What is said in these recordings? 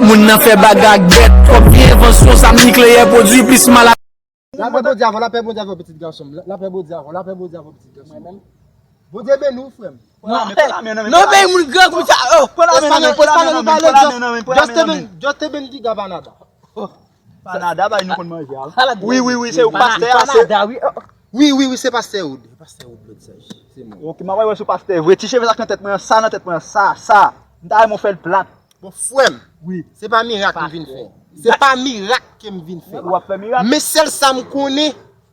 Moun nan fè bagay ak bèt. Twòp vye envansyon, zam nikleyè pwodwi plis mal ak. Lapè Bondye avèw lapè Bondye avèw pitit gansonm lapè Bondye avèw lapè Bondye avèw pitit gansonm Bondye beniw frèm. Non peyi moun grangou sa oh. Espanol espanol ou pale just just te bendiga banada oh. Panada bay nou konn manje a wi. Wi wi wi se ou ki pastè a. Panada wi. Wi wi wi se pastè Wood. Pastè Wood lòt saj. Se mwen. Ok mwen wè wè se ou pastè vre. Ti cheve sa ki nan tèt mwen an sa nan tèt mwen an sa sa. M ta renmen ou fèl plat. Bon frèm. Wi. Se pa mirak m vin fè. Se pa mirak ke m vin fè. Ou ap fè mirak. Men sèl sa m konnen.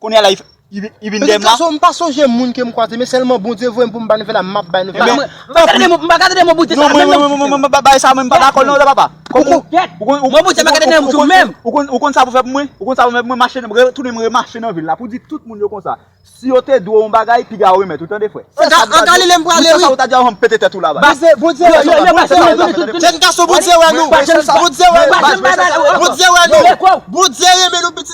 Kounye a la li vin deyem la. Gason m pa sonje moun ke m kwaze men selman Bondye voye m pou m bay nouvel la map bay nouvel la. M pa gade moun m pa gade de moun boute sa menm nan m sou menm. Bagay sa mwen m pa dakol nan papa. Moun boute sa m pa gade nan m sou menm. Ou konn sa pou fè pou mwen? Ou konn sa pou fè pou mwen mache nan retounen m remache nan vil la pou di tout moun yo konsa. Si yo te dwe w yon bagay piga yo remèt ou tande frè. Se sa pou ta di. Moun sa sa pou ta di a m pete tèt ou la baz. Baz Bondye wè nou. Jèn gason Bondye wè nou. Bondye wè nou. Bondye renmen nou pitit.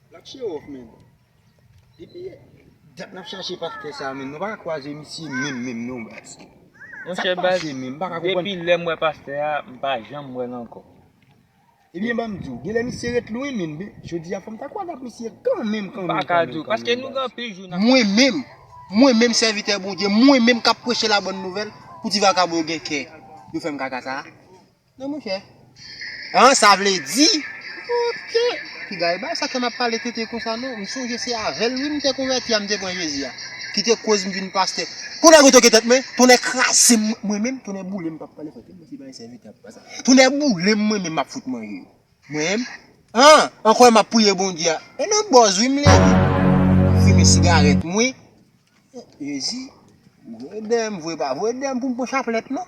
Nap show off menn. Depi dat nap chache pastè sa menn. Nou pa ka kwaze misye menm menm non baz. Sak pase menm? M pa ka konprann. Depi lèm wè pastè a, m pa janm wèl ankò. Ebyen banm diw, genlè misye ret lwen menn. Jodia fòm ta kwaze ak misye kanmenm kanmenm. M pa ka diw. Paske nou gen anpil jou nap. Mwen menm, mwen menm sèvitè Bondye, mwen menm kap preche la bòn nouvèl pou ti vakabon yo gen kè yo fèm kaka sa a. Non monchè. An sa vle di. Ok. Kidal ba sa ke map pale tete konsa non. M sonje se avèl wi m te konvèti a m te pran Jezi a. Ki te koz m vin pastè. Pou nèg retoke tèt mwen. Tonnè kraze m mwen menm. Tonnè boule m pap pale fò. Kèm si bay sèvitè ap pa sa. Tonnè boule m mwen menm map fout manje yo. Mwen menm. An. An kwè map priye Bondye a. E nan bòz wi m leve. Fimen sigarèt mwen. Jezi. Vwe dèm vwe pa vwe dèm pou m pran chaplèt non.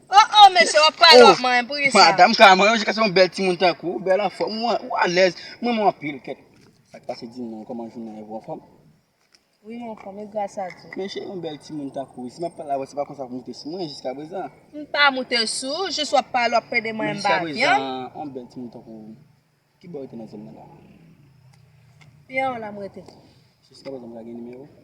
Oh oh mesye wap pale wap manyen poukisa. Oh madam ka manyen jiska se yon bèl timoun tankou ou bèl anfòm ou alèz m renmen w anpil kèt. Sak pase di m non kòman jounen an ou anfòm? Wi m anfòm e gras a Dye. Men cheri yon bèl timoun tankou ou si map pale avè w se pa konsa pou moute sou mwen jiska prezan. M pa moute sou ou jis wap pale wap pede manyen m ba vyann. Men jiska prezan yon bèl timoun tankou ou kibò ou rete nan zòn nan la? Pi anwo la m rete. Jiska prezan m ka gen nimewo w?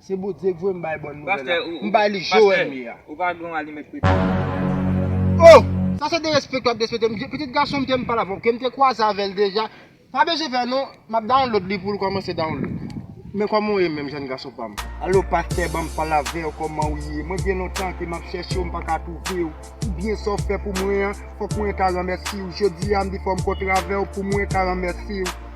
Se Bondye ki voye m bay bòn nouvèl la. M bay li Joel m ye a. Pastè, ou pa gen yon alimèt preche? Oh! Sa se derespek wap despekte m. Pitit gason m te m pale avè w, ke m te kwaze avè l deja. Pa bezwen fè non, m ap download li pou l kòmanse download. Men kòman w ye menm jèn gason pa m? Alo pastè, ban m pale avè w, kòman w ye? Mwen gen lontan ke m ap chèche w, m pa ka twouve w. Pou byen sa w fè pou mwen an, fòk mwen ta ranmèsi w. Jodi a m di fò m kontre avè w pou mwen ka ranmèsi w.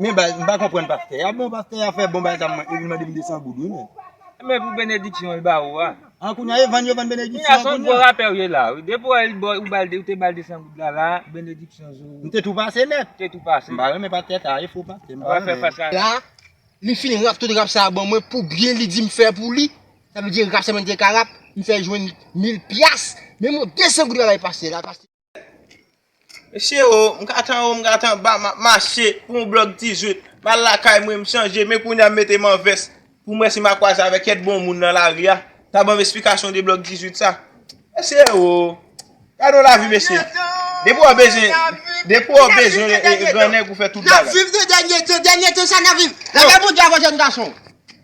Men baz m pa konprann pastè a bon pastè a fè bon batam mwen epi l mande m 200 goud wi menn. Menm pou benediksyon l ba ou a. An kounya e vann yo vann benediksyon an kounya. Kounya son gwo rapè w ye la wi. Depi w wè l ba w ou bal ou te bal 200 goud la la benediksyon zo. M te tou pase nèt. Te tou pase. M pa renmen pastè sa a e fo pastè m pa renmen. Wap fè fas a. La li fin rap tout rap sa a ban mwen pou byen li di m fè pou li. Sa vle di rap sa mwen te ka rap m fè jwenn mil pyas. Men mwen 200 goud la bay pastè la. Mesye o, m kat anwo, m kat anba, m ap mache pou yon blòk 18, m al lakay mwen, m chanje, men kounye a m mete m an vès pou m wè si m a kwaze avèk kèk bon moun nan lari a, k a ban m esplikasyon de blòk 18 sa. Mesye o, gade yon lavi mesye, depi w bezwen, depi w bezwen gran nèg ou fè tout bagay. N ap viv nan dènye tan, dènye tan sa n ap viv, lage bon Dye avè w jèn gason.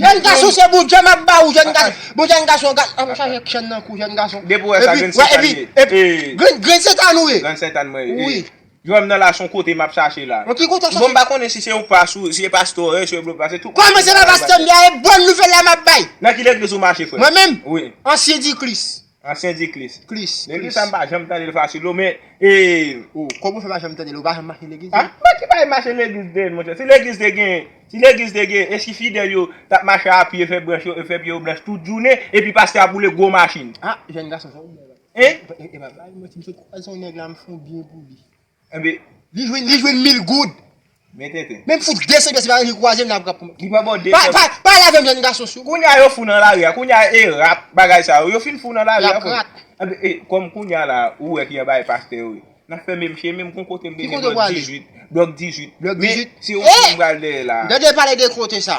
Jèn gason se bondye map ba ou jèn gason bon jèn gason gad anm chaje k chèn nan kou jèn gason Depi ou wè sa grenn setan li ye ee grenn grenn setan ou ye grenn setan mwen ye ee jwèm nan la son kote map chache la nan ki kote w chache bon m pa konnen si se yon pas ou si e pastè w ye si e blofè se tout kòman se pa pastè m ye e bon nouvèl la map bay nan ki legliz ou mache frè mwen menm wi ansyen di kris. Ansyen di klis. Klis. Depi sa m pa janm tande l fasil o men ee. O, kòm ou fè pa janm tande l ou pa janm mache legliz non? Mwen ki bay mache legliz den monchè. Si legliz te gen, si legliz te gen e si fidèl yo t ap mache a pye fè branch yo e fè pye yo blanch tout jounen epi pastè ap woule gwo machin. Ah jèn gason sa ou byen la. Hein? Epa bay manti m sot kwaze yon nèg la m fon byen pou li. Enben li jwenn li jwenn mil goud. Men tenten. Menm fout 200 pye se pa annik kwaze m la pran pou m. Li pran bò 200. Pa pale avè m jèn gason si w. Kounye a yo fou nan lari a. Kounye a e rat bagay sa yo. Yo fin fou nan lari a. Lap rat. Enben e kòm kounye a la ou wè ki anba e pastè yo ye. N ap fè menm chyen menm gon kote m te gen blòk 18. Blòk 18. Blòk 18. Men se yon chyen m pral dèyè la a. M tande pale de kote sa.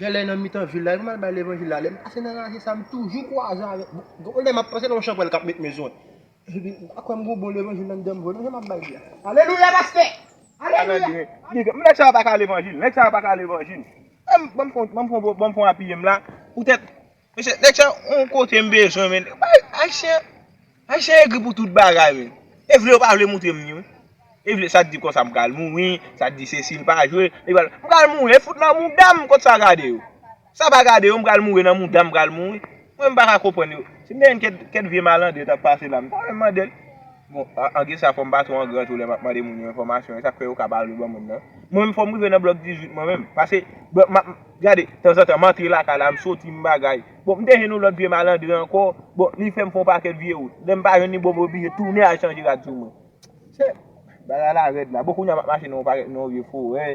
Genlè nan mitan vil la epi mal bay levanjil la lèm pase nan raje sa m toujou kwaze avèk gon lè map panse nan yon chanpwèl kap met men sou mwen epi mpa kwè m gon bon levanjil nan mitan m vre non jan map bay li a alelouya pastè alelouya nèg sa yo paka levanjil nèg sa yo paka levanjil banm fon banm fon banm fon apiye m la poutèt Mesye nèg sa yon kote m bezwen men ayisyen ayisyen egri pou tout bagay men e vle yo pa vle moutre m ni wi e vle sa t di konsa m pral mouri sa t di sesi m pa jwe m pral mouri e fout nan mouda m kot sa gade yo sa pa gade yo m pral mouri nan mouda m pral mouri mwen m pa ka konprann yo si m te gen kèk vye malandren t ap pase la m ta al mandel. Bon, anglè sa fò m pa twò an gran tou lè m ap mande moun yo enfòmasyon e sa k fè yo ka pa vle ban moun nan. Mwen menm fò m rive nan blòk 18 mwen menm. Pase, m ap, gade, tanzantan m antre lakay la, m soti, m bagay. Bon, m te jwenn yon lòt vye malandren ankò, bon, li fè m fè yon pakèt vye wout. Lè m pa jwenn li, bon, m oblije tounen al chanje rad sou mwen. Sè, bagay la rèd la. Bon, kounye a m ap mache nan yon pakèt, nan yon vye forè,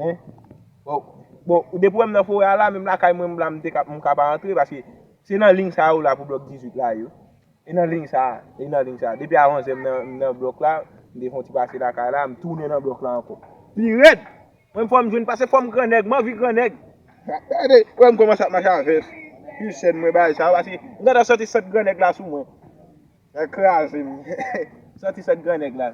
en. Bon, bon, depi w wè m nan forè a la, menm lakay mwen m la, m te ka, m ka pa antre paske se nan ling sa yo la pou blòk 18 la yo. E nan liy sa a, e nan liy sa a. Depi a onzè m nan blòk la, m te fè yon ti pase lakay la, m tounen nan blòk la ankò. Pi rèd! Mwen m fò m jwenn pase fò m gran nèg, m anvi gran nèg. Gade, wè m kòmanse ap mache a vès. Pi sèn mwen bay sa a pase m gentan santi sant gran nèg la sou mwen. Sa kraze m. Santi sant gran nèg la.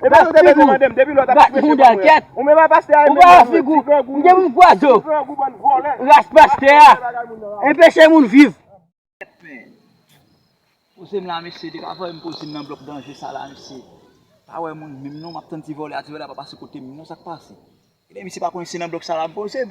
Ou pa figou. Ou pa figou. Ou pa figou. Ou gen moun kwa zo. Ras paste a. E peche moun viv. Pose m la mesye. Deka vwa m pose m nan blok danje sa la mesye. Pa we moun menm non. Map tann ti vole a. Ti vole a pa pase kote m non. Sak pase. Ebyen misye pa konnen se nan blok sa la m pose m.